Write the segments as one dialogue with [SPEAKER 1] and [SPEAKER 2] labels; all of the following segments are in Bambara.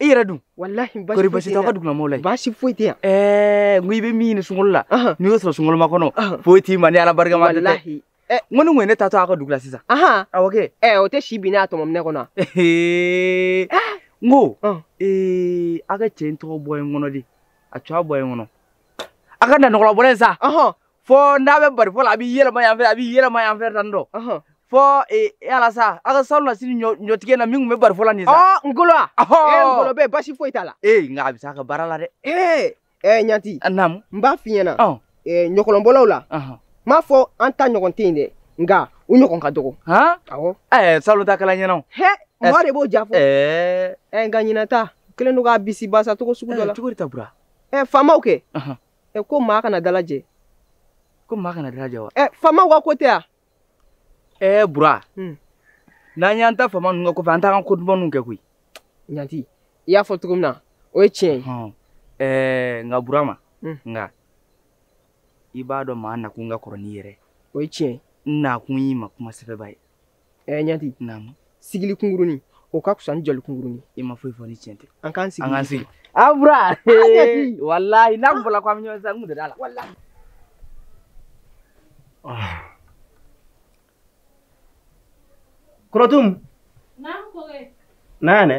[SPEAKER 1] i yɛrɛ dun walahi basi kori basi
[SPEAKER 2] t'aw ka
[SPEAKER 1] dugulamɔgɔw la yen basi foyi tɛ yan
[SPEAKER 2] ɛɛ n ko i bɛ
[SPEAKER 1] min ɲini sunkalo la n'i y'o sɔrɔ sunkaloma kɔnɔ foyi t'i ma ni ala barika ma tɛ walahi n ko ni
[SPEAKER 2] ŋɔni ta
[SPEAKER 1] to a ka dugu la sisan awɔ kɛ ɛɛ o tɛ si bin
[SPEAKER 2] n'a tɔmɔminɛ kɔnɔ n
[SPEAKER 1] ko ee a ka cɛ in tɔgɔ bɔ n kɔnɔ de a tɔgɔ bɔ n kɔnɔ a ka nanɔgɔlabɔlɛ sa fo n'a bɛ bari fɔ la a b'i yɛlɛma yan fɛ a b'i yɛlɛma yan fɛ tan dɔ fɔ ala sa a ka salonnasini ɲɔtigɛ na min tun bɛ bari fɔ la nin sa ngolo a ngolo
[SPEAKER 2] bɛ basi foyi t'a la ee nka a bɛ se a ka baara
[SPEAKER 1] la dɛ ee ɛɛ ɲanti naamu
[SPEAKER 2] n b'a f'i
[SPEAKER 1] ɲɛna
[SPEAKER 2] ɲɔgɔlɔnbɔlaw la n m'a fɔ an ta ɲɔgɔn tɛ yen dɛ nka u ɲɔgɔn ka dɔgɔ awɔ ɛɛ salon ta
[SPEAKER 1] kala ɲɛna o hɛ mɔgɔ de b'o diya
[SPEAKER 2] fɔ ɛɛ nka ɲinan ta kɛlen don ka bisibasa cogo sugu dɔ la cogo di ta bura ɛɛ
[SPEAKER 1] faamaw kɛ
[SPEAKER 2] ɛ ko maa kana dalajɛ ko
[SPEAKER 1] maa kana dalajɛ wa ɛ faamaw ka ko tɛ
[SPEAKER 2] wa ɛ bura hmm.
[SPEAKER 1] n'an y'an ta faama ninnu ka ko fɛ an t'an ka ko dumanw kɛ koyi ɲanti
[SPEAKER 2] i y'a fɔ cogo min na o ye tiɲɛ ye
[SPEAKER 1] ɛɛ nka burama hmm. nka i b'a dɔn maa nakun ka kɔrɔ n'i yɛrɛ o ye tiɲɛ ye n
[SPEAKER 2] nakun y'i ma
[SPEAKER 1] kuma sɛbɛba ye ɛ eh,
[SPEAKER 2] ɲanti naamu sigili kunkurunin o ka fisa ni jɔli kunkurunin i ma foyi fɔ ni
[SPEAKER 1] tiɲɛ tɛ an k'an sigi an k'an
[SPEAKER 2] sigi a ah, bura ah,
[SPEAKER 1] walahi n'a kun fɔla ko an bɛ ɲɔgɔn sisan n kun tɛ d'a la walahi
[SPEAKER 3] korotum naamu kɔkɛ na yan dɛ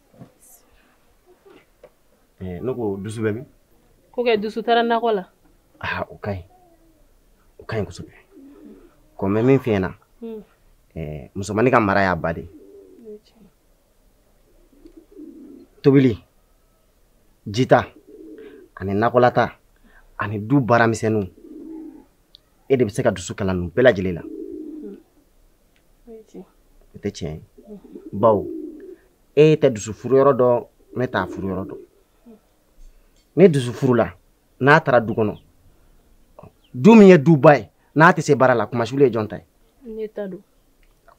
[SPEAKER 3] Eh, ne ko dusu bɛ min kɔkɛ
[SPEAKER 4] dusu taara nakɔ la aa o ka ɲi
[SPEAKER 3] o ka ɲi kosɛbɛ ko n bɛ min f'i ɲɛna hmm. eh, musomannin ka mara y'a ba de tobili jita ani nakɔlataa ani du baaramisɛnninw e de bɛ se ka dusu kalan ninnu bɛɛ lajɛlen na o tɛ tiɲɛ ye bawo e tɛ dusu furu yɔrɔ dɔn ne t'a furu yɔrɔ dɔn ni dusu furula n'a taara du kɔnɔ du min ye duba ye n'a tɛ se baara la kunmasuli ye jɔn ta ye ne
[SPEAKER 4] ta don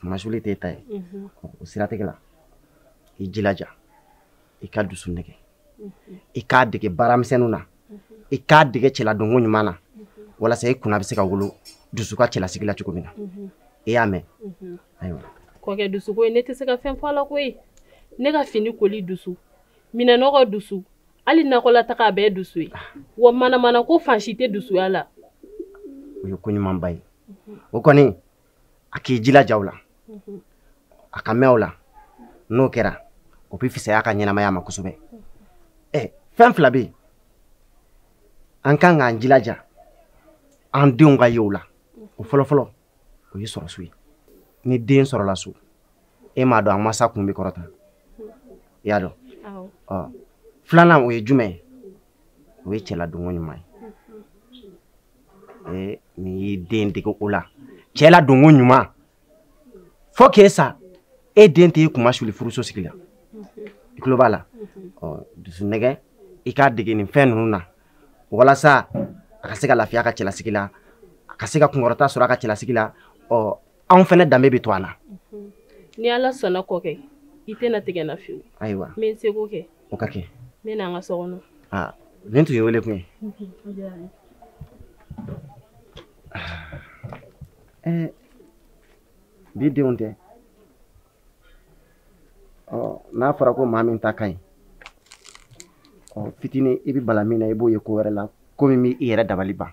[SPEAKER 4] kunmasuli t'e
[SPEAKER 3] ta ye o siratigɛ la i jilaja i ka dusu nɛgɛ i k'a dege baaramisɛnninw na i k'a dege cɛladonko ɲuman na walasa i kunna bɛ se ka wolo dusu ka cɛlasigi la cogo min na i y'a mɛn ayiwa kɔkɛ dusu
[SPEAKER 4] ko ye ne tɛ se ka fɛn fɔ a la koyi ne ka fini koli dusu minɛnɔgɔ dusu hali nakɔlataga a bɛɛ dusu ye wa manamanako fan si tɛ dusuya la o ye
[SPEAKER 3] ko ɲumanba ye o kɔni a k'i jilaja o la a ka mɛn o la n'o kɛra o bɛ fisaya ka ɲɛnamaya ma kosɛbɛ ɛ fɛn fila bɛ yen an kan k'an jilaja an denw ka ye o la o fɔlɔfɔlɔ o ye sɔrɔso ye ni den sɔrɔla so e m'a dɔn a masa kun bɛ kɔrɔta i y'a dɔn filanan o ye jumɛn ye o ye cɛladonko ɲuman ye n'i y'i den dege o la cɛladonko ɲuman fo k'e sa e den tɛ e kunmasuli furuso sigi la i tulo b'a la dusu nɛgɛ i k'a dege nin fɛn ninnu na walasa a ka se ka lafiya a ka cɛlasigi la a ka se ka kunkɔrɔta sɔrɔ a ka cɛlasigi la ɔ anw fɛnɛ danbe bɛ to an na ni ala
[SPEAKER 4] sɔnna kɔkɛ i tɛna tigɛ n na fiyewu ayiwa n bɛ n seko
[SPEAKER 3] kɛ
[SPEAKER 4] o ka kɛ ne
[SPEAKER 3] n'an ka so kɔnɔ
[SPEAKER 4] aa nin tun ye
[SPEAKER 3] wele kun ye bi denw tɛ n'a fɔra ko maa min ta ka ɲi fitinin i bɛ bala min na i b'o ye ko wɛrɛ la ko min b'i yɛrɛ dabali ban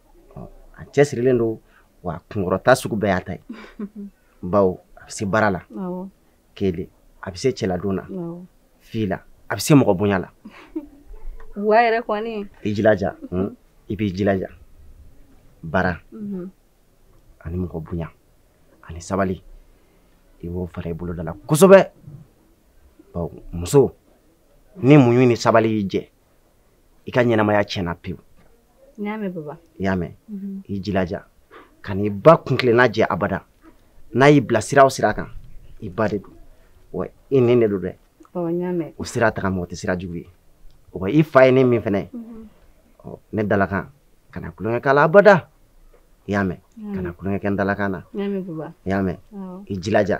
[SPEAKER 3] a cɛsirilen don wa kunkɔrɔta sugu bɛɛ y'a ta ye bawo a bɛ se baara
[SPEAKER 4] la kelen
[SPEAKER 3] a bɛ se cɛladon na
[SPEAKER 4] fila a
[SPEAKER 3] bɛ se mɔgɔ bonya la
[SPEAKER 4] wa i yɛrɛ kɔni i jilaja
[SPEAKER 3] hmm? i b'i jilaja baara mhm. ani mɔgɔ bonya ani sabali i b'o fara i boloda la kosɛbɛ bawo muso ni muɲu ni sabali y'i jɛ i ka ɲɛnamaya tiɲɛna pewu n y'a mɛn
[SPEAKER 4] baba i y'a mɛn
[SPEAKER 3] mhm. i jilaja kan'i ba kuntilenna jɛ abada n'a y'i bila sira o sira kan i ba de don wa i nin de don dɛ
[SPEAKER 4] o sira taga mɔgɔ tɛ
[SPEAKER 3] sira jugu ye wa i fa ye ne min fɛnɛ ye mhm. ne dalakan kana tulonkɛ k'a la abada i y'a mɛn kana tulonkɛ kɛ n dalakan na i y'a mɛn
[SPEAKER 4] i
[SPEAKER 3] jilaja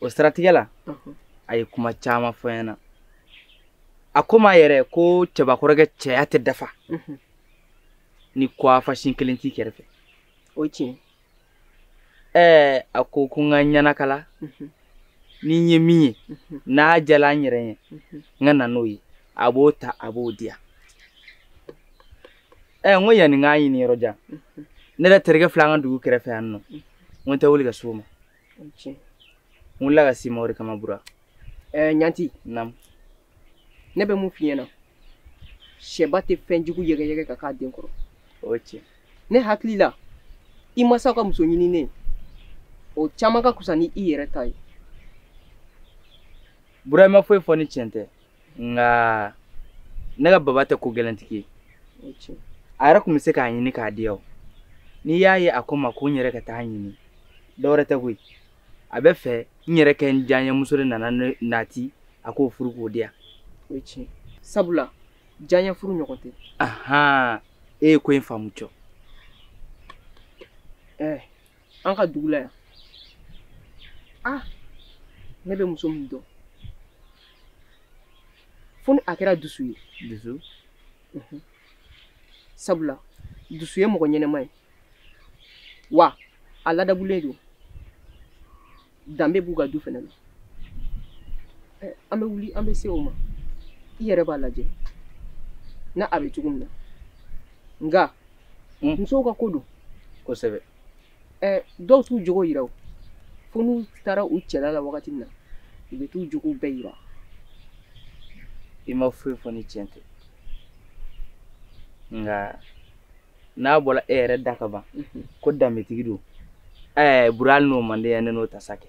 [SPEAKER 1] o siratigɛ la a ye kuma caman fɔ n ɲɛna a ko n ma yɛrɛ ko cɛbakɔrɔkɛ cɛya tɛ dafa ni kwafasin kelen t'i kɛrɛfɛ o tiɲɛ
[SPEAKER 2] ɛɛ
[SPEAKER 1] a ko ko n ka ɲɛnakala ni n ye min ye n'a diyala n yɛrɛ ye n ka na n'o ye a b'o ta a b'o di yan ɛɛ n ko yanni n k'a ɲini yɔrɔ jan ne yɛrɛ terikɛ filɛ an ka dugu kɛrɛfɛ yan nɔ n ko n tɛ wuli ka s'o
[SPEAKER 2] ma n
[SPEAKER 1] wulila ka s'i ma o de kama bura ɛɛ
[SPEAKER 2] ɲanti naamu ne bɛ mun f'i ɲɛna sɛba tɛ fɛn jugu yɛgɛyɛgɛ ka k'a den kɔrɔ o ye
[SPEAKER 1] tiɲɛ ne
[SPEAKER 2] hakili la i masaw ka muso ɲininen o caman ka kusa ni i yɛrɛ ta ye
[SPEAKER 1] bura i ma foyi fɔ ni tiɲɛ tɛ nka ne ka baba tɛ ko gɛlɛntigi
[SPEAKER 2] ye a yɛrɛ tun bɛ
[SPEAKER 1] se k'a ɲini k'a di yan n'i y'a ye a ko n ma ko n yɛrɛ ka taa ɲini dɔwɛrɛ tɛ koyi a bɛ fɛ n yɛrɛ ka n diyaɲɛmuso de nana ne nati a k'o furu k'o di yan o ye
[SPEAKER 2] tiɲɛ sabula diyaɲɛ furu ɲɔgɔn tɛ ahan
[SPEAKER 1] e ye ko in faamu cɔ
[SPEAKER 2] ɛɛ an ka dugu la yan ah ne bɛ muso min dɔn fo ni a kɛra dusu ye dusu mhm. sabula dusu ye mɔgɔ ɲɛnɛma ye wa a ladabulen don danbe b'u ka du fana na an bɛ wuli an bɛ se o ma i yɛrɛ b'a lajɛ n'a a bɛ cogo min na nka hmm. musow ka ko don kosɛbɛ dɔw t'u jogo yira o fo n'u taara u cɛla la wagati min na u bɛ t'u jogow bɛɛ yira
[SPEAKER 1] i ma foyi fɔ ni tiɲɛ tɛ nka n'a bɔra e yɛrɛ da ka ban ko danbetigi don ɛɛ bura n'o man di yan ne n'o ta sa kɛ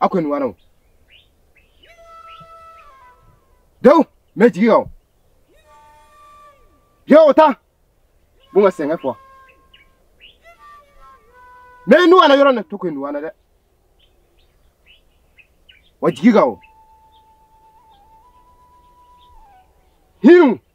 [SPEAKER 5] a kɔni wara o dew mɛ jigi ka o ye o ta bon ka sɛgɛn fɔ mɛ n'u ala yɔrɔ na to kɔni wara dɛ wa jigi ka o hinu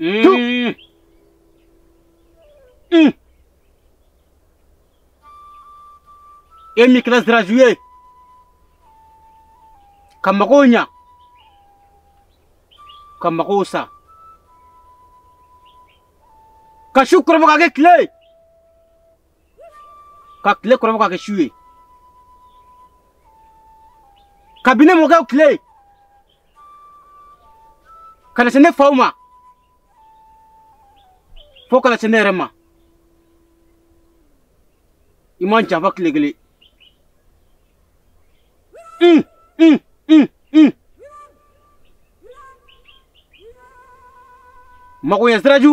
[SPEAKER 6] Mm. Mm. E min kɛra siraju ye ka magow ɲa ka magow sa ka su kɔrɔbɔ k'a kɛ tile ye ka tile kɔrɔbɔ k'a kɛ su ye kabini mɔkɛw tile ka na se ne faw ma fo ka na se ne yɛrɛ ma i ma n janfa tile kelen un un un un magoɲɛ siraju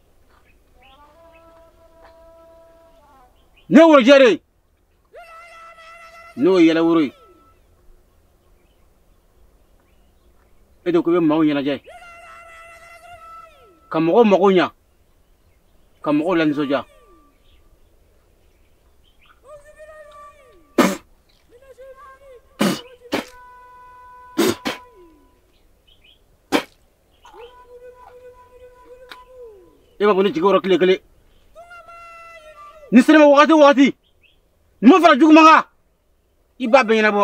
[SPEAKER 6] ne wo jɛre n'o ye yɛlɛworo ye e de ko i bɛ maaw ɲɛnajɛ ka mɔgɔw mago ɲa ka mɔgɔw lanisɔndiya e ma bɔ ne jigi kɔrɔ tile kelen ni n sera i ma wagati o wagati ɲuman fara juguman kan i b'a bɛɛ ɲɛnabɔ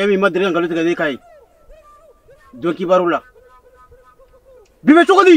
[SPEAKER 6] e min ma deli ka nkalon tigɛ ne k'a ye don kibaru la bi bɛ cogo di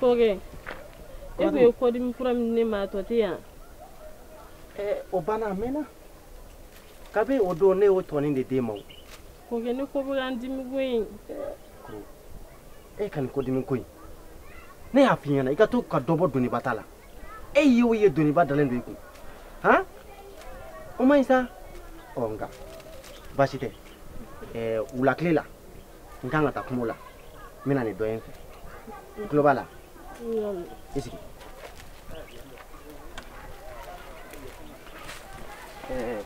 [SPEAKER 4] kɔkɛ e tun ye kɔdimi fura min ne ma tɔ tɛ yan o banna
[SPEAKER 3] a mɛnna kabi o don ne y'o tɔni de d'e ma o kɔkɛ ne
[SPEAKER 4] kɔ bɛ ka n dimi koyi e
[SPEAKER 3] ka nin kɔdimi
[SPEAKER 4] ko in ne
[SPEAKER 3] y'a f'i ɲɛna i ka to ka dɔ bɔ doniba ta la e ye o ye doniba dalen don i kun han o man ɲi sa ɔ nka baasi tɛ ɛɛ wula tile la n kan ka taa kungo la n bɛ na ni dɔ ye n fɛ i tulo b'a la i sigi ɛɛ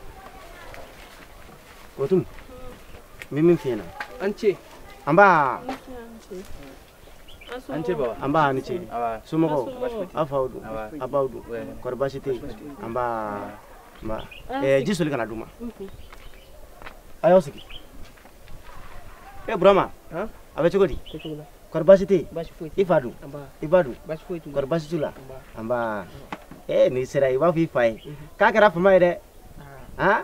[SPEAKER 3] o tuma n bɛ min f'i ɲɛna an ce
[SPEAKER 2] nba
[SPEAKER 1] an ce baba nba a ni
[SPEAKER 3] ce
[SPEAKER 1] somɔgɔw
[SPEAKER 3] aw faw dun aw baw dun kɔri baasi tɛ yen nba ma ɛɛ ji soli ka n'a d'u ma a y'aw sigi e burama a bɛ cogo di kɔri baasi tɛ yen i fa dun i ba dun kɔri baasi t'u la nba ee n'i sera i b'a fɔ i fa ye k'a kɛra fama ye dɛ han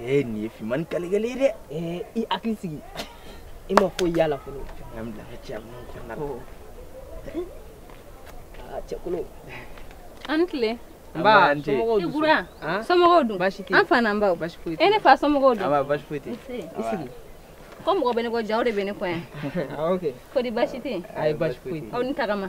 [SPEAKER 1] ee nin ye finmani kalikɛli ye dɛ ee i hakili
[SPEAKER 2] sigi i ma foyi y'a la fɔlɔ an bila ka
[SPEAKER 1] cɛ minnu kɔnɔna la aa cɛkolo
[SPEAKER 2] an
[SPEAKER 4] tile nba
[SPEAKER 2] somɔgɔw dun
[SPEAKER 4] ibura somɔgɔw dun baasi tɛ an fa n'an baw
[SPEAKER 2] baasi foyi
[SPEAKER 4] tɛ e ne fa
[SPEAKER 2] somɔgɔw dun nba
[SPEAKER 4] baasi foyi tɛ
[SPEAKER 1] i
[SPEAKER 2] sigi ko mɔgɔ
[SPEAKER 4] bɛ ne kɔ jaa aw de bɛ ne kɔ yan kɔri
[SPEAKER 2] baasi tɛ yen
[SPEAKER 4] ayi baasi foyi tɛ aw ni
[SPEAKER 2] tagama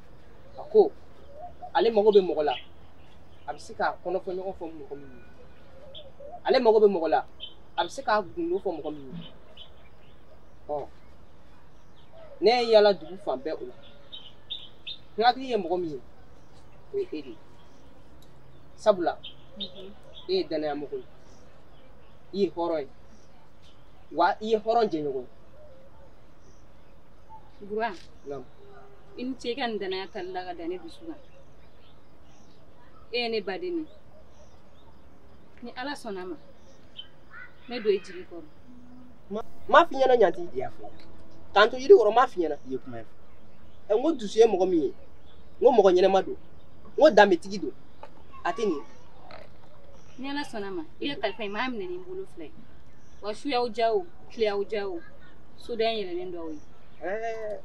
[SPEAKER 2] a ko ale mago bɛ mɔgɔ la a bɛ se k'a kɔnɔfɔ ɲɔgɔn fɔ mɔgɔ min ye ale mago bɛ mɔgɔ la a bɛ se k'a gundo fɔ mɔgɔ min ye ɔ ne ye yala dugu fan bɛɛ o la n hakili ye mɔgɔ min ye o ye e de ye sabula e ye danaya mɔgɔ ye i ye hɔrɔn ye wa i ye hɔrɔn jɛɲɔgɔn
[SPEAKER 4] ye Buran, naamu
[SPEAKER 2] i ni ce
[SPEAKER 4] i ka nin danaya tali la ka da ne dusu kan e ye ne baden ye ni ala sɔnna a ma n tɛ don i jigi kɔrɔ m'a
[SPEAKER 2] f'i ɲɛna ɲanti i y'a fɔ
[SPEAKER 1] k'an to yiri
[SPEAKER 2] kɔrɔ m'a f'i ɲɛna i ye kuma ye
[SPEAKER 1] ɛ n ko
[SPEAKER 2] dusu ye mɔgɔ min ye n ko mɔgɔ ɲɛnɛma don n ko danbetigi don a tɛ nin
[SPEAKER 4] ni ala sɔnna a ma i ka kalifa in n b'a minɛ ni n bolo fila ye wa su y'aw diya o tile y'aw diya o so da yɛlɛlen don aw ye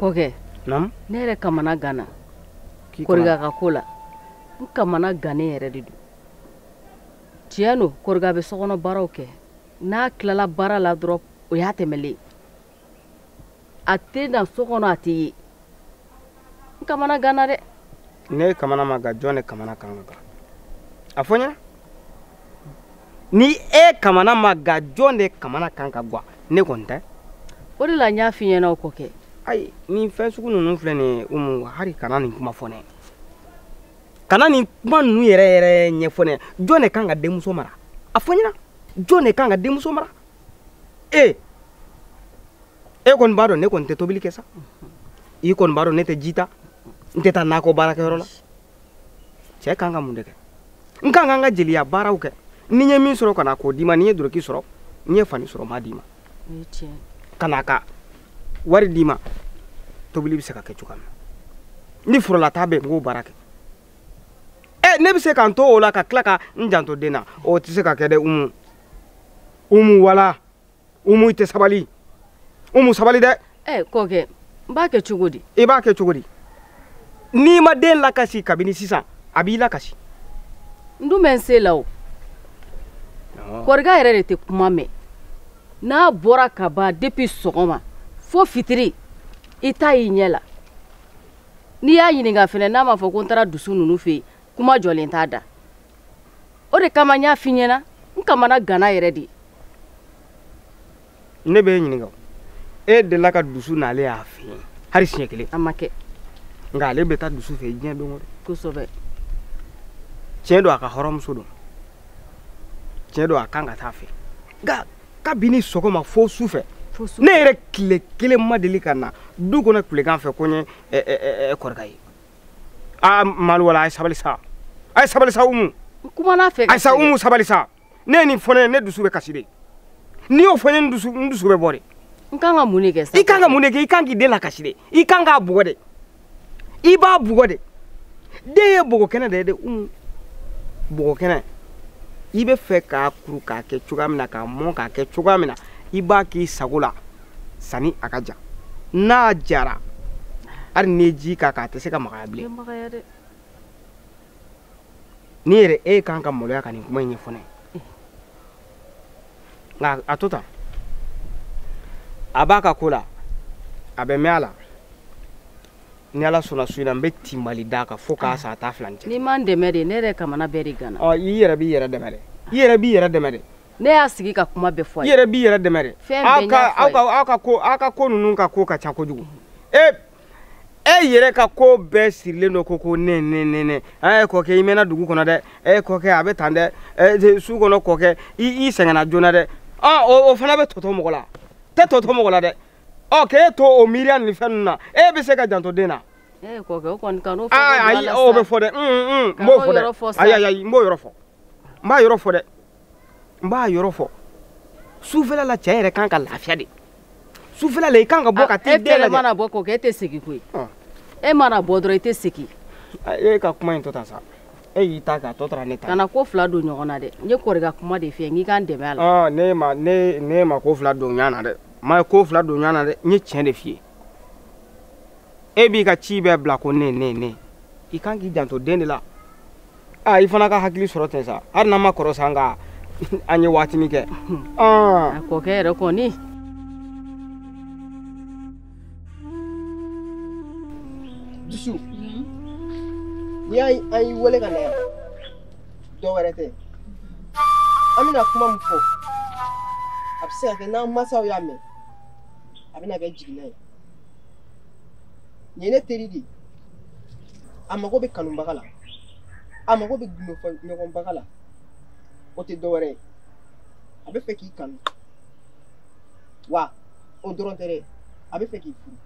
[SPEAKER 2] kɔkɛ naamu ne
[SPEAKER 3] yɛrɛ
[SPEAKER 2] kamana ganna koriga ka ko la n kamana gannen yɛrɛ de don tiɲɛ don koriga bɛ sokɔnɔ baaraw kɛ n'a tilala baara la dɔrɔn o y'a tɛmɛlen a tɛ na so kɔnɔ a tɛ ye n kamana ganna dɛ ni e kamana
[SPEAKER 7] ma ga jɔn de kamana kan ka ga a fɔ n ɲɛna ni e kamana ma ga jɔn de kamana kan ka gwa ne kɔni tɛ o de la n y'a
[SPEAKER 2] f'i ɲɛna o kɔkɛ ayi nin
[SPEAKER 7] fɛn sugu ninnu filɛ nin ye umu hari kana nin kuma fɔ ne kana nin kuma ninnu yɛrɛ yɛrɛ ɲɛfɔ ne jɔn de kan ka denmuso mara a fɔ n ɲɛna jɔn de kan ka denmuso mara ee e kɔni b'a dɔn ne kɔni tɛ tobili kɛ sa i kɔni b'a dɔn ne tɛ ji ta n tɛ taa nakɔ baarakɛyɔrɔ la cɛ kan ka mun de kɛ n kan ka n ka jeliya baaraw kɛ ni n ye min sɔrɔ ka na k'o d'i ma ni n ye doroki sɔrɔ n ye fani sɔrɔ n b'a d'i ma ka na ka wari d'i ma tobili bɛ se ka kɛ cogoya min na ni forolataa bɛ n k'o baara kɛ ɛ ne bɛ se ka n to o la ka tila ka n janto den na o tɛ se ka kɛ dɛ umu umu wala umu i tɛ sabali umu sabali dɛ ɛ eh,
[SPEAKER 2] kɔkɛ n b'a kɛ cogo di i b'a kɛ cogo di
[SPEAKER 7] n'i ma den lakasi kabini sisan a b'i lakasi n dun
[SPEAKER 2] bɛ n se la o koriga yɛrɛ de tɛ kuma mɛn n'a bɔra ka ban depuis sɔgɔma fo fitiri i t'a y'i ɲɛ la n'i y'a ɲininka fɛnɛ n'a m'a fɔ ko n taara dusu ninnu fɛ yen kuma jɔlen t'a da o de kama n y'a f'i ɲɛna n kamana ganna yɛrɛ
[SPEAKER 7] de ne bɛ e ɲininka e delila ka dusu n'ale y'a fɛ yen hali siɲɛ kelen a ma kɛ
[SPEAKER 2] nka ale bɛ
[SPEAKER 7] taa dusu fɛ diɲɛ don o don kosɛbɛ tiɲɛ don a ka hɔrɔnmuso don tiɲɛ don a kan ka taa fɛ nka kabini sɔgɔma fo su fɛ ne yɛrɛ tile kelen ma deli ka na du kɔnɔ tilegan fɛ ko n ye kɔrika ye aa malu wala a ye sabali sa a ye sabali sa umu kumana fɛ
[SPEAKER 2] ayisa umu sabali
[SPEAKER 7] sa n'e ye nin fɔ ne ye ne dusu bɛ kasi de n'i y'o fɔ n ye n dusu n dusu bɛ bɔ de n kan ka mun de
[SPEAKER 2] kɛ sa i kan ka mun de kɛ i kan k'i den
[SPEAKER 7] lakasi de i kan k'a bugɔ de i b'a bugɔ de den ye bɔgɔ kɛnɛ de ye de umu bɔgɔ kɛnɛ i bɛ fɛ k'a kuru k'a kɛ cogoya min na k'a mɔn k'a kɛ cogoya min na i b'a k'i sago la sani a ka ja n'a jara hali n'i ye ji k'a kan a tɛ se ka magaya bilen n'i yɛrɛ e kan ka maloya ka nin kuma in ɲɛfɔ ne ye nka a to tan a b'a ka ko la a bɛ mɛn a la ni ala sɔnna su in na n bɛ tinbali d'a kan fo k'a sa a t'a filan kɛ n'i ma n dɛmɛ de ne yɛrɛ
[SPEAKER 2] kamana bɛɛ de ganna ɔ i yɛrɛ b'i yɛrɛ dɛmɛ
[SPEAKER 7] dɛ i yɛrɛ b'i yɛrɛ dɛmɛ dɛ ne y'a sigi
[SPEAKER 2] ka kuma bɛɛ fɔ a ye. i yɛrɛ b'i yɛrɛ dɛmɛ dɛ.
[SPEAKER 7] fɛn bɛɛ n y'a fɔ a ye. aw
[SPEAKER 2] ka aw ka ko aw ka ko ninnu
[SPEAKER 7] ka ko ka ca kojugu. e e yɛrɛ ka ko bɛɛ sirilen don ko ko ne ne ne ne ɛ kɔkɛ i mɛnna dugu kɔnɔ dɛ ɛ kɔkɛ a bɛ tan dɛ ɛ su kɔnɔ kɔkɛ i i seginna joona dɛ ɔ o o fana bɛ tɔ to mɔgɔ la tɛ tɔ to mɔgɔ la dɛ ɔ k'e to o miiriya ni fɛn ninnu na e bɛ se ka janto den na. ee kɔkɛ o kɔni
[SPEAKER 2] kan'o fɔ ayi o bɛ fɔ dɛ
[SPEAKER 7] n b'o fɔ dɛ ayi ayi n b'o yɔrɔ fɔ n b'a yɔrɔ fɔ dɛ. n b'a yɔrɔ fɔ sufɛla la cɛ yɛrɛ kan ka lafiya de sufɛla la i kan ka bɔ ka t'i den lajɛ e mana bɔ kɔkɛ e tɛ segin
[SPEAKER 2] koyi e mana bɔ dɔrɔn i tɛ segin e ka
[SPEAKER 7] kuma in to tan sa e y'i ta kɛ a tɔ tora ne ta kana ko fila don ɲɔgɔn
[SPEAKER 2] na dɛ n ye kɔrika kuma de f'i ye n k'i k'an dɛmɛ a la ne ma ne ne ma
[SPEAKER 7] ko fila don ɲɔgɔn na dɛ n ma ko fila don ɲɔgɔn na dɛ n ye tiɲɛ de f'i ye e b'i ka ci bɛɛ bila ko ne ne ne i kan k'i janto den de la aa i fana ka hakili sɔrɔ ten sa hali n'an ma kɔrɔ sa nka an ye waatinin kɛ a
[SPEAKER 2] kɔkɛ yɛrɛ kɔni dusu
[SPEAKER 8] n'i y'a ye an y'i wele ka na yan dɔ wɛrɛ tɛ an bɛna kuma min fɔ a bɛ se ka kɛ n'an mansaw y'a mɛn a bɛna kɛ jiginna ye nin ye ne teri de ye a mago bɛ kanubaga la a mago bɛ gundofɔ ɲɔgɔnbaga la o tɛ dɔwɛrɛ ye a bɛ fɛ k'i kanu wa o dɔrɔn tɛ dɛ a bɛ fɛ k'i furu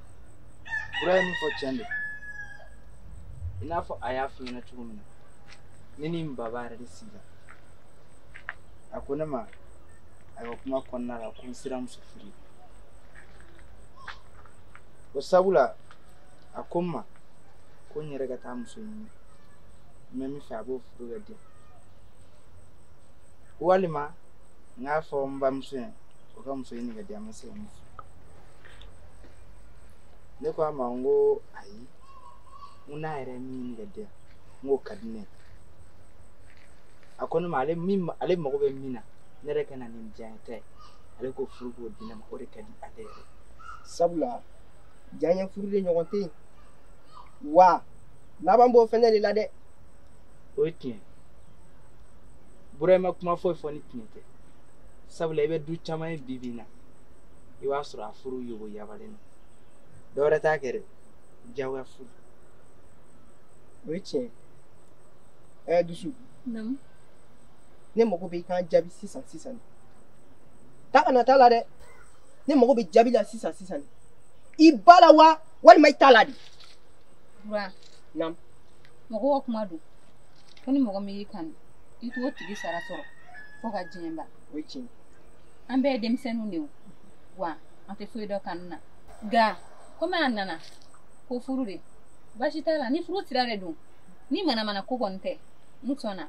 [SPEAKER 8] bura
[SPEAKER 1] ye min fɔ tiɲɛ don i n'a fɔ a y'a f'i ɲɛna cogo min na ne ni n baba yɛrɛ de sigila a ko ne ma ayiwa kuma kɔnɔna la ko n sera muso furu ye sabula a ko n ma ko n yɛrɛ ka taa muso ɲini n bɛ min fɛ a b'o furu ka di yan walima n k'a fɔ n bamuso ye o ka muso ɲini ka di an ma se ka min fɔ ne ko a ma n ko ayi n ko n'a yɛrɛ ye min ɲini ka di yan n k'o ka di ne ye a ko ne ma ale min ale mago bɛ min na ne yɛrɛ ka na ni n diyanye ta ye ale k'o furu k'o di ne ma o de ka di ale yɛrɛ
[SPEAKER 8] sabula diyanye furu de ɲɔgɔn tɛ yen wa laban b'o fɛnɛ de la dɛ o ye
[SPEAKER 1] tiɲɛ bura i ma kuma foyi fɔ ni tiɲɛ tɛ sabula i bɛ du caman ye bi bi in na i b'a sɔrɔ a furu yogo yabalen don dɔwɛrɛ t'a kɛ dɛ diyagoya furu
[SPEAKER 8] o ye tiɲɛ ye ɛɛ dusu ne mago bɛ i ka jaabi sisan sisan de taa ka na t'a la dɛ ne mago bɛ jaabi la sisan sisan de i b'a la wa walima i t'a la de. bura
[SPEAKER 4] naamu
[SPEAKER 8] mɔgɔ ka
[SPEAKER 4] kuma don ko ni mɔgɔ min y'i kanu i t'o tigi sara sɔrɔ fo ka diɲɛ ban o ye tiɲɛ
[SPEAKER 8] ye. an bɛɛ
[SPEAKER 4] ye denmisɛnninw de ye o, wa an tɛ foyi dɔn kanu na nka komi a nana ko furu de baasi t'a la ni furu sira de don ni manamana ko kɔni tɛ n sɔnna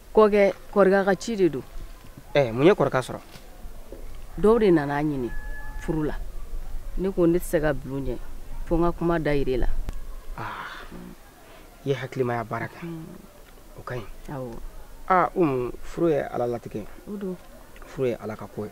[SPEAKER 7] kɔkɛ
[SPEAKER 9] kɔrɔkɛ ka ci de don ɛɛ eh, mun ye
[SPEAKER 7] kɔrɔkɛ sɔrɔ
[SPEAKER 9] dɔw de nana a ɲini furu la ne ko ne tɛ se ka bila u ɲɛ fo n ka kuma dayira i la
[SPEAKER 7] ah, i ye hakilimaya baara kɛ mm. o ka ɲi awɔ aa ah, umu
[SPEAKER 9] furu ye ala
[SPEAKER 7] latigɛ ye
[SPEAKER 9] furu ye ala ka
[SPEAKER 7] ko ye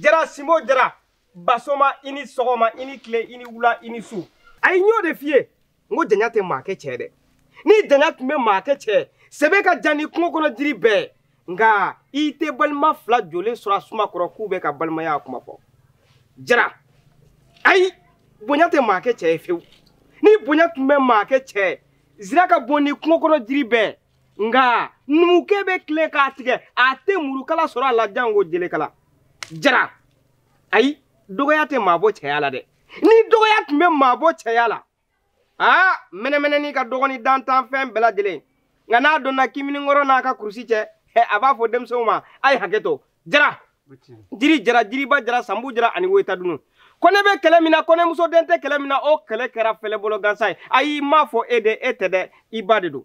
[SPEAKER 7] jara simo jara basoma i ni sɔgɔma i ni tile i ni wula i ni su ayi n y'o de f'i ye n ko janya tɛ maa kɛ cɛ dɛ ni janya tun bɛ maa kɛ cɛ sɛbɛ ka jan ni kungo kɔnɔ jiri bɛɛ nka i tɛ balima fila jɔlen sɔrɔ a suma kɔrɔ k'u bɛ ka balimaya kuma fɔ jara ayi bonya tɛ maa kɛ cɛ ye fewu ni bonya tun bɛ maa kɛ cɛ zira ka bon ni kungo kɔnɔ jiri bɛɛ nka numukɛ bɛ tilen k'a tigɛ a tɛ murukala sɔrɔ a la jango jelekala jara ayi dɔgɔya tɛ maa bɔ cɛya la dɛ ni dɔgɔya tun bɛ maa bɔ cɛya la aa mɛnɛmɛnɛni ka dɔgɔn ni dantanfɛn bɛɛ lajɛlen nka n'a donna kiminikɔrɔ n'a ka kurusi cɛ a b'a fɔ denmisɛnw ma a ye hakɛ to jara jiri jara jiriba jara sanbu jara ani woyita dunu ko ne bɛ kɛlɛ min na ko ne muso den tɛ kɛlɛ min na o kɛlɛ kɛra fɛlɛbolo gansan ye ayi n m'a fɔ e de e tɛ dɛ i ba de don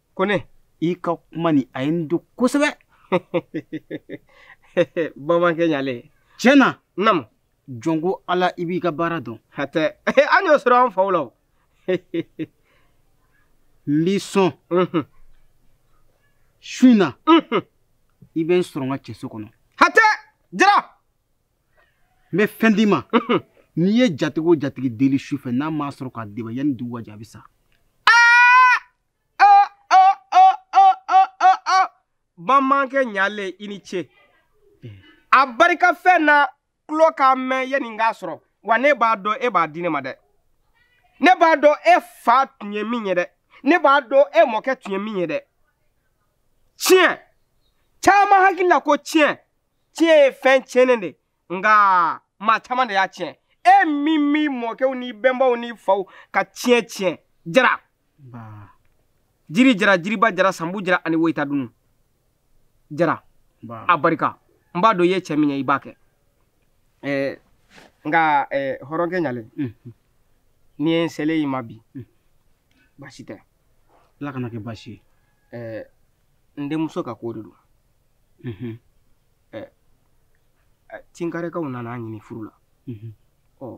[SPEAKER 6] ko
[SPEAKER 7] ne i ka kuma
[SPEAKER 6] ni a ye n don
[SPEAKER 7] kosɛbɛ bamankɛ ɲalen tiɲɛ na namu jɔn
[SPEAKER 6] ko ala i b'i ka baara dɔn hatɛ an y'o
[SPEAKER 7] sɔrɔ an faw la o
[SPEAKER 6] n b'i sɔn su in na i bɛ n sɔrɔ n ka cɛso kɔnɔ
[SPEAKER 7] hatɛ
[SPEAKER 6] jara n bɛ fɛn d'i ma n'i ye jatigi o jatigi deli su fɛ n'a m'a sɔrɔ k'a d'e ma yanni dugu ka jɛ a bɛ sa
[SPEAKER 7] bamankɛ ɲalen i ni ce a barika fɛn na tulo k'a mɛn yanni n k'a sɔrɔ wa ne b'a dɔn e b'a di ne ma dɛ ne b'a dɔn e fa tun ye min ye dɛ ne b'a dɔn e mɔkɛ tun ye min ye dɛ tiɲɛ caman hakili la ko tiɲɛ tiɲɛ ye fɛn tiɲɛnen de nka maa caman de y'a tiɲɛ e m'i m'i mɔkɛw n'i bɛnbaw n'i faw ka tiɲɛ tiɲɛ jara jiri jara jiriba jara sanbu jara ani woyita dunu jara a barika n b'a dɔn i ye cɛ min ye i b'a kɛ nka hɔrɔnkɛ ɲalen n'i ye n selen i ma bi baasi tɛ ala kana kɛ
[SPEAKER 6] baasi ye n
[SPEAKER 7] denmuso ka ko de don mhm. tinkarekaw nana a ɲini furu la mhm. ɔ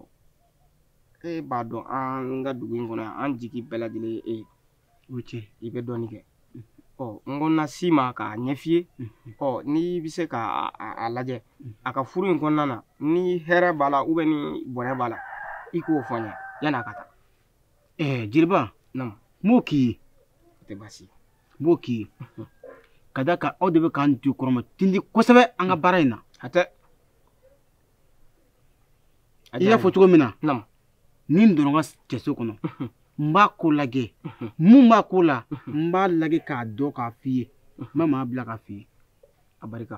[SPEAKER 7] e b'a dɔn an ka dugu in kɔnɔ yan an jigi bɛɛ lajɛlen ye e ye o cɛ
[SPEAKER 6] i bɛ dɔɔnin
[SPEAKER 7] kɛ mhm. ɔ n ko n na s'i ma k'a ɲɛf'i ye ɔ n'i bɛ se k'a lajɛ a ka furu in kɔnɔna na ni hɛrɛ b'a la ni bɔnɛ b'a la i k'o fɔ n ye yann'a ka taa ɛɛ jeliba
[SPEAKER 6] n b'o
[SPEAKER 7] k'i
[SPEAKER 6] ye tɛ
[SPEAKER 7] baasi n b'o k'i
[SPEAKER 6] ye ka d'a kan aw de bɛ k'an jukɔrɔmatintin kosɛbɛ an ka baara in na hatɛ i y'a fɔ cogo min na n ni
[SPEAKER 7] n donna n
[SPEAKER 6] ka cɛso kɔnɔ n b'a ko lajɛ mun b'a ko la n b'a lajɛ k'a dɔn k'a f'i ye n bɛ maa bila k'a f'i ye a barika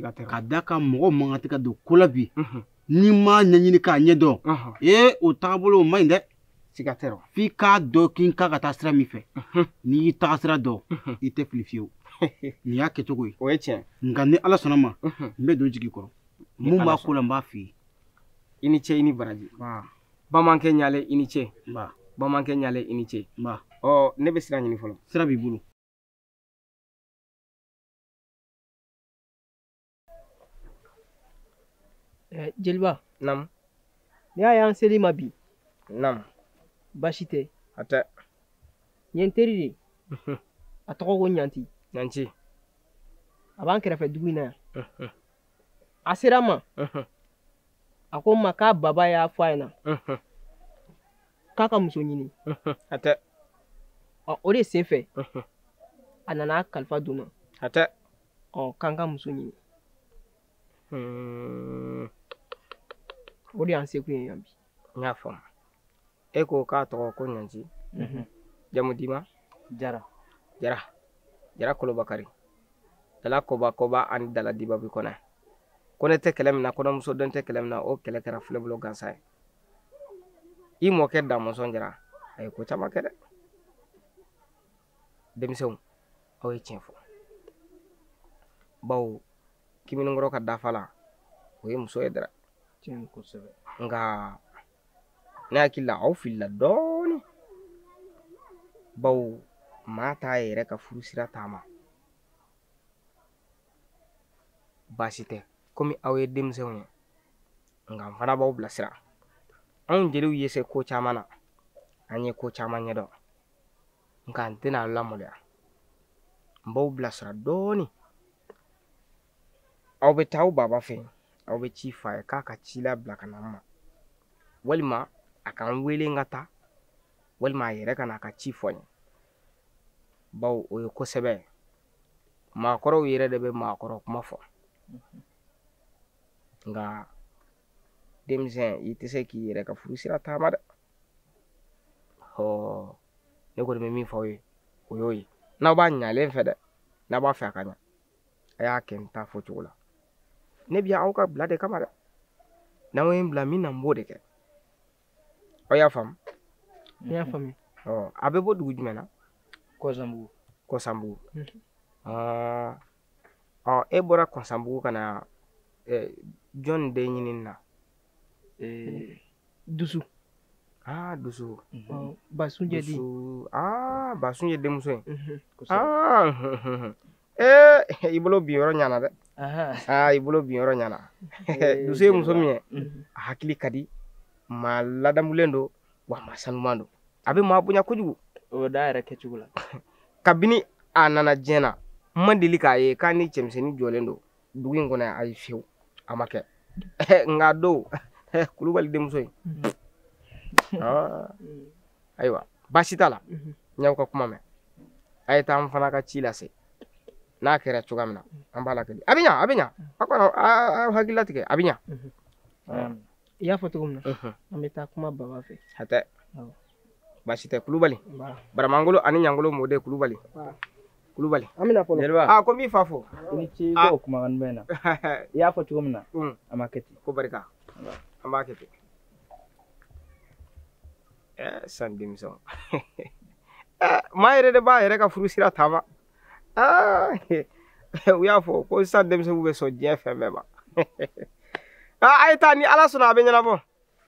[SPEAKER 6] k'a da kan mɔgɔ man kan tɛ ka don ko la bi n'i m'a ɲɛɲini k'a ɲɛ dɔn ee o tagabolo o man ɲi dɛ siga tɛ rɔ f'i
[SPEAKER 7] k'a dɔn k'i
[SPEAKER 6] kan ka taa sira min fɛ n'i y'i taga sira dɔn i tɛ fili fiyewu nin y'a kɛcogo ye o ye tiɲɛ nka
[SPEAKER 7] ni ala sɔnna
[SPEAKER 6] ma n bɛ don jigi kɔrɔ mun b'a ko la n b'a f'i ye i ni ce
[SPEAKER 7] i ni baraji bamankɛ ɲalen i ni ce bamankɛ ɲalen i ni ce ɔ ne bɛ sira ɲini fɔlɔ sira b'i bolo
[SPEAKER 8] Eh, jeliba
[SPEAKER 7] naamu n'i y'a
[SPEAKER 8] y'an sel'i ma bi
[SPEAKER 7] naamu baasi
[SPEAKER 8] tɛ hatɛ
[SPEAKER 7] n ye
[SPEAKER 8] n teri de a tɔgɔ ko ɲanti ɲanti a b'an kɛrɛfɛ dugu in na yan a sera n ma a ko n ma k'a baba y'a fɔ a ɲɛna k'a ka muso ɲini hatɛ ɔ o de sen fɛ a nana kalifa don n na hatɛ
[SPEAKER 7] ɔ k'an ka
[SPEAKER 8] muso ɲini hmm. o de y'an sekun ye yan bi n y'a faamu
[SPEAKER 7] e ko k'a tɔgɔ ko ɲanti mhm. jamu diman jara jara jara kolobakari dala koba koba ani dala dibabi kɔnɛ kɔnɛ tɛ kɛlɛ min na kɔnɛmuso den tɛ kɛlɛ min na o kɛlɛ kɛra filɛbolo gansan ye i mɔkɛ damɔnzɔn jara a ye ko caman kɛ dɛ denmisɛnw aw ye tiɲɛ fɔ bawo kamalenkɔrɔ ka dafalan o ye muso ye dɛrɛ nka ne hakili la aw filila dɔɔni bawo maa t'a yɛrɛ ka furu sira taama baasi tɛ komi aw ye denmisɛnw ye nka n fana b'aw bilasira anw jeliw ye se ko caman na an ye ko caman ɲɛdɔn nka n tɛna aw lamaloya n b'aw bilasira dɔɔnin aw bɛ taa aw baba fɛ yen aw bɛ ci fɔ a ye k'a ka ci labila ka na n ma walima a ka n wele n ka taa walima a yɛrɛ ka na a ka ci fɔ n ye bawo o ye kosɛbɛ maakɔrɔw yɛrɛ de bɛ maakɔrɔ kuma fɔ nka denmisɛn i tɛ se k'i yɛrɛ ka furu sira taama dɛ ɔ ne kɔni bɛ min fɔ aw ye o y'o ye n'aw b'a ɲalen fɛ dɛ n'aw b'a fɛ a ka ɲa a y'a kɛ n ta fɔ cogo la ne bɛ aw ka bila de kama dɛ n'aw ye n bila min na n b'o de kɛ aw y'a faamu n y'a
[SPEAKER 8] faamu ɔ a bɛ bɔ
[SPEAKER 7] dugu jumɛn na
[SPEAKER 1] kɔsanbugu kɔsanbugu
[SPEAKER 7] aa ɔ e bɔra kɔsanbugu ka na ɛ, jɔn de ɲinini na
[SPEAKER 8] Ee, dusu aa
[SPEAKER 7] dusu
[SPEAKER 8] ɔ, basunjɛ den dusu aa
[SPEAKER 7] basunjɛ denmuso ye Mhm. aa ee i bolo bin yɔrɔ ɲana dɛ aa i bolo bin yɔrɔ ɲana dusu ye muso min ye a hakili ka di maa ladamulen don wa maa sanuman don a bɛ maa bonya kojugu o bɛ da yɛrɛ kɛcogo
[SPEAKER 1] la kabini
[SPEAKER 7] a nana diɲɛ na n ma deli k'a ye k'a ni cɛmisɛnnin jɔlen don dugu in kɔnɔ ayi fiyewu a ma kɛ n k'a dɔn kulubali denmuso in ah. ayiwa baasi t'a la n y'aw ka kuma mɛn a ye taa an fana ka ci lase n'a kɛra cogoya min na an b'a lakali a bɛ ɲa a bɛ ɲa a kɔni aw hakili latigɛ a bɛ ɲa
[SPEAKER 8] i y'a fɔ cogo min na an bɛ taa kuma baba fɛ hatɛ
[SPEAKER 7] baasi tɛ kulubali baramangolo ani ɲangolo mɔden kulubali kulubali an bɛna fɔlɔ
[SPEAKER 8] jeliba aa ko n b'i fa
[SPEAKER 7] fo i ni ce ko kumakan
[SPEAKER 1] mɛnna i y'a fɔ cogo min na an b'a kɛ ten ko barika
[SPEAKER 7] an b'a kɛ ten ɛɛ san denmisɛnw maa yɛrɛ de b'a yɛrɛ ka furu sira taama u y'a fɔ ko sisan denmisɛnninw bɛ sɔn diɲɛ fɛn bɛɛ ma a ye taa ni ala sɔnna a bɛ ɲɛnabɔ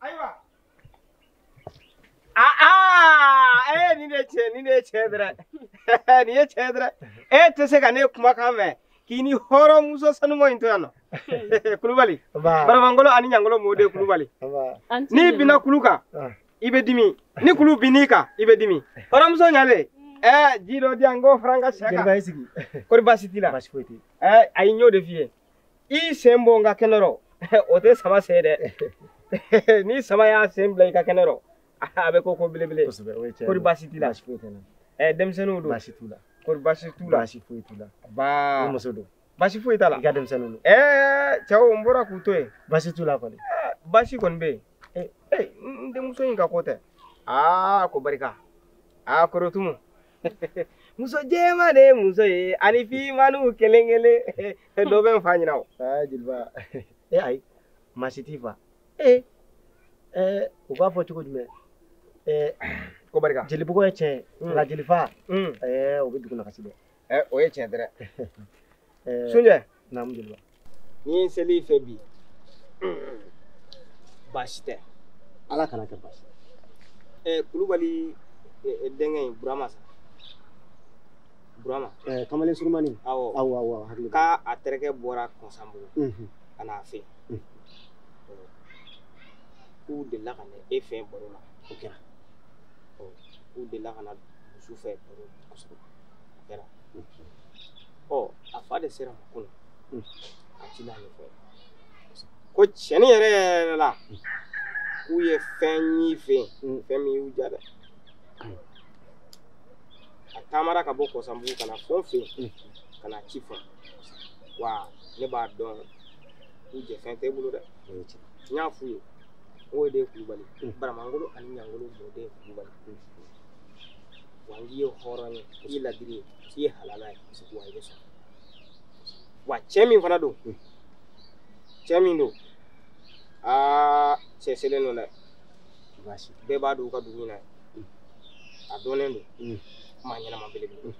[SPEAKER 7] ayiwa aa ah, ah, ee eh, nin de tiɲɛ nin de ye tiɲɛ dɛrɛ nin ye tiɲɛ dɛrɛ e tɛ se ka ne kumakan mɛn k'i ni hɔrɔnmuso sanuman in to yan nɔ kulubali baramangolo ani ɲangolo mɔden kulubali n'i binna kulu kan ah. i bɛ dimi ni kulu binn'i kan i bɛ dimi hɔrɔnmuso ɲalen ɛɛ ji dɔ di yan n k'o fara n ka sɛ kan kɔri
[SPEAKER 3] baasi t'i la ayi n y'o de f'i ye
[SPEAKER 7] i sen bɔ n ka kɛnɛ rɔ o tɛ sama sen dɛ ni sama y'a sen bila i ka kɛnɛ rɔ a bɛ ko ko belebele kɔri baasi t'i la ɛ
[SPEAKER 3] denmisɛnninw don baasi
[SPEAKER 7] t'u la kɔri baasi
[SPEAKER 3] t'u la baasi
[SPEAKER 7] foyi t'u
[SPEAKER 3] la baa muso don baasi foyi t'a la i
[SPEAKER 7] ka denmisɛnninw don
[SPEAKER 3] ɛɛ cɛw n
[SPEAKER 7] bɔra k'u to yen baasi t'u la
[SPEAKER 3] kɔni baasi kɔni bɛ yen
[SPEAKER 7] ee n denmuso in ka ko tɛ aa ko barika aa korotumu muso jɛman de ye muso ye ani finmanninw kelen kelen dɔ bɛ n fa ɲinan o. aa jeliba
[SPEAKER 3] e ayi maa si t'i fa. ee ɛɛ u b'a fɔ cogo jumɛn
[SPEAKER 7] ɛɛ ko barika jelibugɔ ye tiɲɛ
[SPEAKER 3] ye nka jelifa ɛɛ o bɛ dugu nagasi dɛ. ɛɛ o ye tiɲɛ dɛrɛ.
[SPEAKER 7] sunjɛ
[SPEAKER 3] naamu ni n
[SPEAKER 7] sel'i fɛ bi baasi tɛ ala kan'a
[SPEAKER 3] kɛ baasi ɛɛ kulubali
[SPEAKER 7] denkɛ in burama sa burama ɛɛ kamalen
[SPEAKER 3] surumani awɔ awɔ awɔ
[SPEAKER 7] hakili k'a
[SPEAKER 3] terikɛ
[SPEAKER 7] bɔra kɔnsanbugu ka n'a fɛ k'u delila ka na e fɛ baro la o kɛra k'u delila ka na dusu fɛ baro kosɛbɛ o kɛra ɔ a fa de sera ko la a ti n'a ɲɛfɔ ko tiɲɛni yɛrɛ yɛrɛ la k'u ye fɛn y'i fɛ yen fɛn min y'u ja dɛ a taamara ka bɔ kɔsanbugu ka na fo n fɛ yen ka na ci fɔ wa ne b'a dɔn k'u jɛ fɛn tɛ bolo dɛ n y'a f'u ye o de ye kulubali baramangolo ani ɲangolo mɔden kulubali wa n k'i ye hɔrɔn ye i ye ladiri ye k'i ye halala ye wa i bɛ sɔn wa cɛ min fana don cɛ min don aa cɛ selen don dɛ bɛɛ b'a dɔn u ka dugu in na a dɔnnen don maa ɲɛnama belebele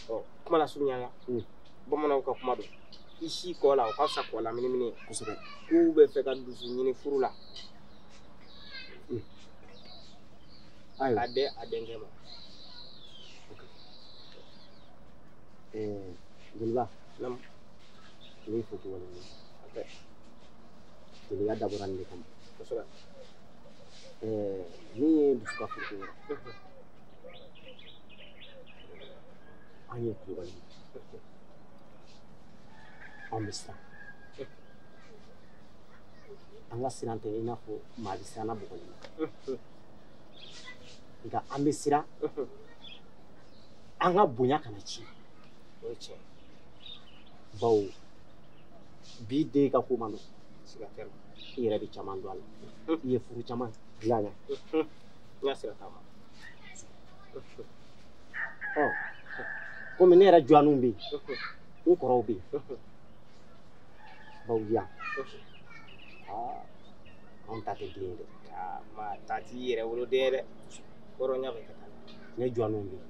[SPEAKER 7] ɔ kuma lasurunya la bamananw ka kuma don i sin kɔ la o ka fisa kɔ laminimini kosɛbɛ k'u bɛ fɛ ka dusu ɲini furu la ayiwa a den a denkɛ
[SPEAKER 3] ma jeliba Naamu. ne y'i fo k'i waleɲuman dɔn. jeliya dabɔra nin de kama
[SPEAKER 7] kosɛbɛ
[SPEAKER 3] Eh, min ye dusu ka furuko ye an ye kulubali ye. an bɛ siran an ka siran tɛ i n'a fɔ maa bɛ siran na bugɔli la nka an bɛ siran an ka bonya kana ci o ye tiɲɛ bawo bi den ka ko man nɔgɔn siga tɛ i
[SPEAKER 7] yɛrɛ bɛ caman
[SPEAKER 3] dɔn a la i ye furu caman dilan
[SPEAKER 7] na n ka sira t'a
[SPEAKER 3] ma ɔ komi ne yɛrɛ dɔgɔninw bɛ yen n kɔrɔw bɛ yen bawo yan aa anw ta tɛ den ye dɛ aa maa ta
[SPEAKER 7] t'i yɛrɛ woloden ye dɛ hɔrɔnya bɛ kɛ tan ne dɔgɔninw
[SPEAKER 3] bɛ yen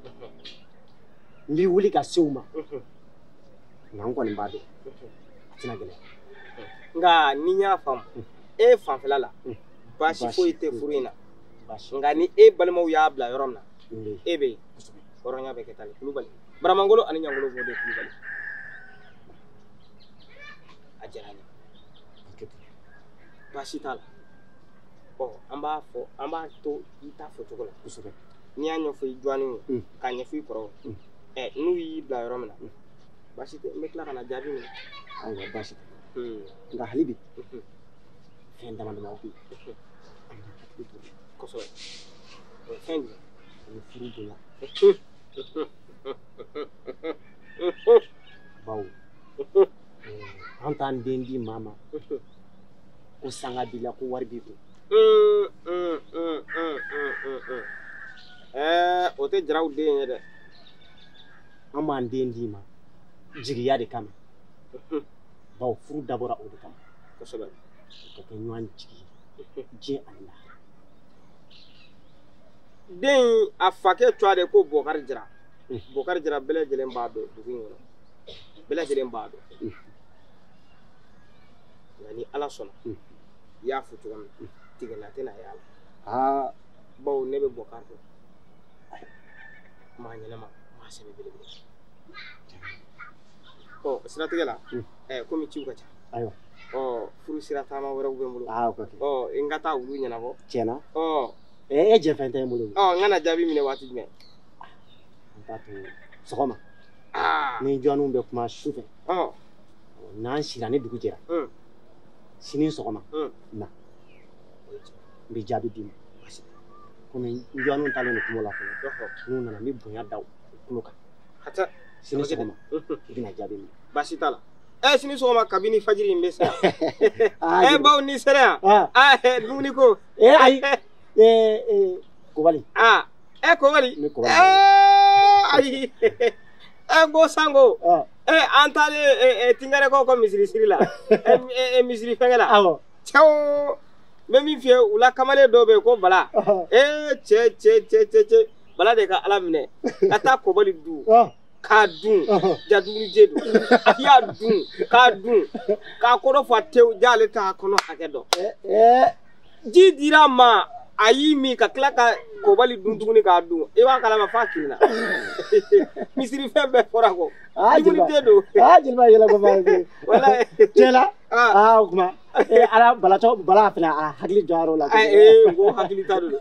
[SPEAKER 3] n bɛ wuli ka se u ma nka n kɔni b'a dɔn a tɛna gɛlɛya nka
[SPEAKER 7] ni n y'a faamu e fanfɛla la baasi foyi tɛ furu in na nka ni e balimaw y'a bila yɔrɔ min na e bɛ yen hɔrɔnya bɛ kɛ tan ni kulubali baramangolo ani ɲangolo mɔden kulubali a diyara n ye baasi t'a la ɔ an b'a fɔ an b'a to i ta fɔcogo la kosɛbɛ n'i y'a ɲɛfɔ i dɔgɔninw ye mm. k'a ɲɛfɔ i kɔrɔw mm. ɛ n'u y'i bila yɔrɔ min na mm. baasi tɛ n bɛ tila ka na jaabi minɛ ayiwa baasi tɛ
[SPEAKER 3] nka hali bi mm-hmm. fɛn dama dama bɛ yen an ka hakili to
[SPEAKER 7] kosɛbɛ o ye fɛn jumɛn o ye furu
[SPEAKER 3] bonya bawo an t'an den di maa ma ko sanga b'i la ko wari b'i
[SPEAKER 7] kun o tɛ jaraw den ye
[SPEAKER 3] dɛ an b'an den d'i ma jigiya de kama bawo furu dabɔra o de kama kosɛbɛ
[SPEAKER 7] ka
[SPEAKER 3] kɛ ɲɔgɔn jigi ye diɲɛ ani
[SPEAKER 7] lahara den a fakɛ tɔgɔ de ko bɔkari jara bɔkari jara bɛɛ lajɛlen b'a dɔn dugu in kɔnɔ bɛɛ lajɛlen b'a dɔn nka ni ala sɔnna i y'a fɔ cogo min na tigɛla tɛna y'a la aa bawo ne bɛ bɔkari dɔn maa ɲɛnama maa sɛbɛ belebele ɔ siratigɛ la ɛɛ komi ciw ka ca ayiwa
[SPEAKER 3] ɔ
[SPEAKER 7] furu sira taama wɛrɛw bɛ n bolo aa o ka kɛ ɔ n ka taa olu ɲɛnabɔ tiɲɛ na
[SPEAKER 3] ɔ e jɛfɛn tɛ n bolo ɔ n ka na jaabi minɛ
[SPEAKER 7] waati jumɛn
[SPEAKER 3] an t'a to sɔgɔma ni dɔgɔninw bɛ kuma su fɛ n'an sira ni dugu jɛra sini sɔgɔma na n bɛ jaabi d'i ma komi n dɔgɔninw taalen don kungo la fɔlɔ n'u nana n bɛ bonya da u tulo kan sini sɔgɔma i bɛna jaabi minɛ baasi t'a
[SPEAKER 7] la ɛ eh, sini sɔgɔma kabini fajiri n bɛ se ɛ ah, eh, bawo n'i sera yan ah. ah, eh, dumuni ko ee ayi
[SPEAKER 3] ee kobali aa
[SPEAKER 7] ɛ kobali ayi ɛ ko sanko ɛ an taalen tinkɛrɛkaw ka misiri siri la ɛ misiri fɛngɛ la awɔ cɛw n bɛ min f'i ye u la kamalen dɔw bɛ yen ko bala ee cɛ cɛ cɛ cɛ cɛ bala de ka ala minɛ ka taa kobali dun k'a dun ja dumunijɛ don a y'a dun k'a dun k'a kɔnɔ fa tewu ja ale t'a kɔnɔ hakɛ dɔn ji dira a ma a y'i min ka tila ka kobali dun tuguni k'a dun i b'a kalama f'a kirinna misiri fɛn bɛɛ fɔra ko dumunijɛ don jeliba yɛlɛ ko baa ye
[SPEAKER 3] wala cɛla aa o kuma ala balatɔ bala fana a hakili jɔyɔrɔ la ee ko hakili
[SPEAKER 7] ta don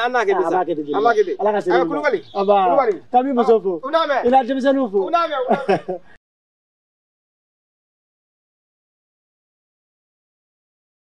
[SPEAKER 7] an n'a kɛ ten sa an b'a kɛ ten an b'a kɛ ten ala ka
[SPEAKER 3] se kulubali kulubali k'an b'i muso fo i n'a denmisɛnninw fo